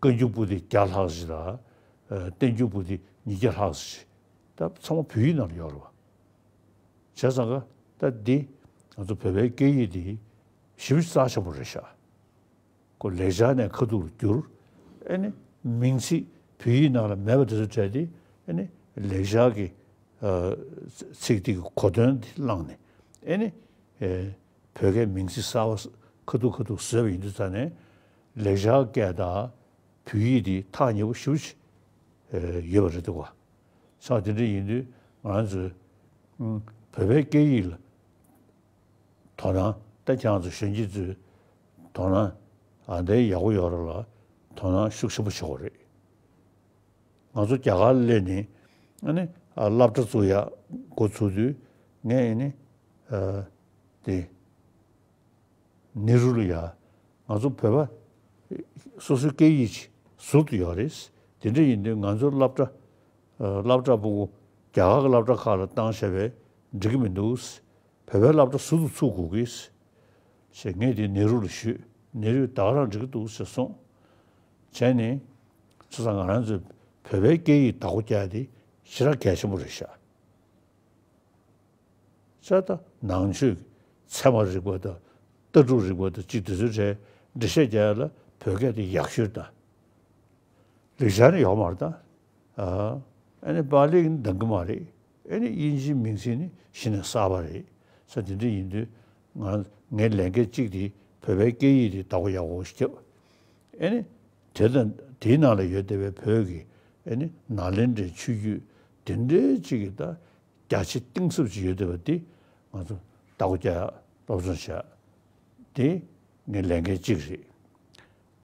བཀའ་འགྱུར་པོ་ཏི་བརྒྱ་ལྷག་བཞི་དང། བསྟན་འགྱུར་པོ་ཏི་ཉིས་བརྒྱ་ལྷག་བཞི། ད་ཚང་མ་བོད་ཡིག་ནང་ལ་ཡོད་རེད་བ། བྱས་ཙང་ཀ། ད་འདི། ང་ཚོ་བོད་པའི་སྐད་ཡིག་འདི། ཞིབ་རྩ་ཆེན་པོ་རེ་བྱ། ཀོ་ལེགས་སྦྱར་ནས་ཁ་ཐུག་ལ་བསྒྱུར། ཨེ་ནི། མིང་ཚིག་བོད་ཡིག་ནང་ལ་མེད་པ་དེ་ཚོ་བྲལ་ཏེ། ཨེ་ནི། ལེགས་སྦྱར་གྱི། ཚིག་དེ་གི་གོ་དོན་དེ་བླངས་ནས། ཨེ་ནི། བོད་སྐད་མིང་ཚིག་གསར་བ་ཁ་ཐུག་ཁ་ཐུག་བཟོས་པ་ཡིན་དུས་ད་ནས། ལེགས་བྱང་སྐད་དང་བོད་ཡིག་འདི་ཐག་ཉེ་པོ་ཞུ་བྱེད་ཡོད་པ་རེད་འདུག་བ། ཆ་དེ་འདྲ་ཡིན་དུས་ང་ཚོས་བོད་པའི་སྐད་ཡིག་ལ་དོ་སྣང་ད་ཀྱང་ཚོ་གཞོན་སྐྱེས་ཚོས་དོ་སྣང་ཨ་འདའི་ཡག་པོ་ཡོད་ར་ལ་དོ་སྣང་ཤུགས་ཆེན་པོ་བྱེད་དགོས་རེད། ང་ཚོ་རྒྱ་གར་སླེ་ནས་ཨནི་སླབ་གྲ་ཚུགས་ཡག་འགོ་ཚུགས་དུས་ངས་ཨནི་དེ་ནེ་རུ་ལ་ཡ། ང་ཚོ་བོད་པ། སོ་སོའི་སྐད་ཡིག་ཅིག་ཟུར་དུ་ཡོད་རེད། དེ་འདྲ་ཡིན་དུས་ང་ཚོའི་སླབ་གྲྭ། སླབ་གྲྭ་པོ། རྒྱ་གར་གི་སླབ་གྲྭ་ཁག་ལ་བཏང་བྱས་པས་འགྲིག་གི་མི་འདུག། བོད་པའི་སླབ་གྲྭ་ཟུར་དུ་ཚུགས་དགོས་ཀི། ཞེས་ངས་དེ་ནེ་རུ་ལ་ཞུས། ནེ་རུས་དྭགས་རང་འགྲིག་གི་འདུག་ཟེར་སོང། བྱས་ནས། ཚུ་ས་ང་རང་ཚོས་བོད་པའི་སྐད་ཡིག་དྭགས་པོ་བསྐྱལ་ཏེ་ཕྱི་ར་གལ་ཆེན་པོ་རེད་ཤག། ཚད་དང་ནང་ཆོས་ཀྱི་ཚད་མ་རིག་པ་དང་ལྟ་གྲུབ་རིག་པ་དང་གཅིག་དུས་ཚོད་གྲལ་འགྲེལ་བཤད་རྒྱ་ཡན་ལ་བོད་སྐད་དུ་ཡག་ཤོས་དང། ལེགས་ཆ་ནི་ཡོག་མར་དང། ཨ་ནི་པཱ་ལིའི་འདང་གི་མ་རེད། ཨེ་ནི་དབྱིན་ཇིའི་མིང་ཚིག་ནི་གཞི་ནས་གསར་བ་རེད། ས་དེ་འདྲ་ཡིན་དུས་ངའི་ལས་འགན་གཅིག་དེ་བོད་པའི་སྐད་ཡིག་དེ་དག་པ་ཡག་པོ་ཞིག་བརྒྱབ། ཨེ་ནི་དེ་དང་དེའི་ནང་ལ་ཡོད་བསྡད་པའི་བོད་ཀྱི་ཨེ་ནི་ནཱ་ལེནྡྲའི་ཆོས་བརྒྱུད་དེ་འདྲའི་གཅིག་གི་དང་རྒྱ་ཆེ་གཏིང་ཟབ་ཅིག་ཡོད་འདོད་པ་འདི་ང་ཚོ་ལྟ་སྒོ་བརྒྱ་སློབ་སྦྱོང་བྱ་དེ་ངའི་ལས་འགན་གཅིག་རེད།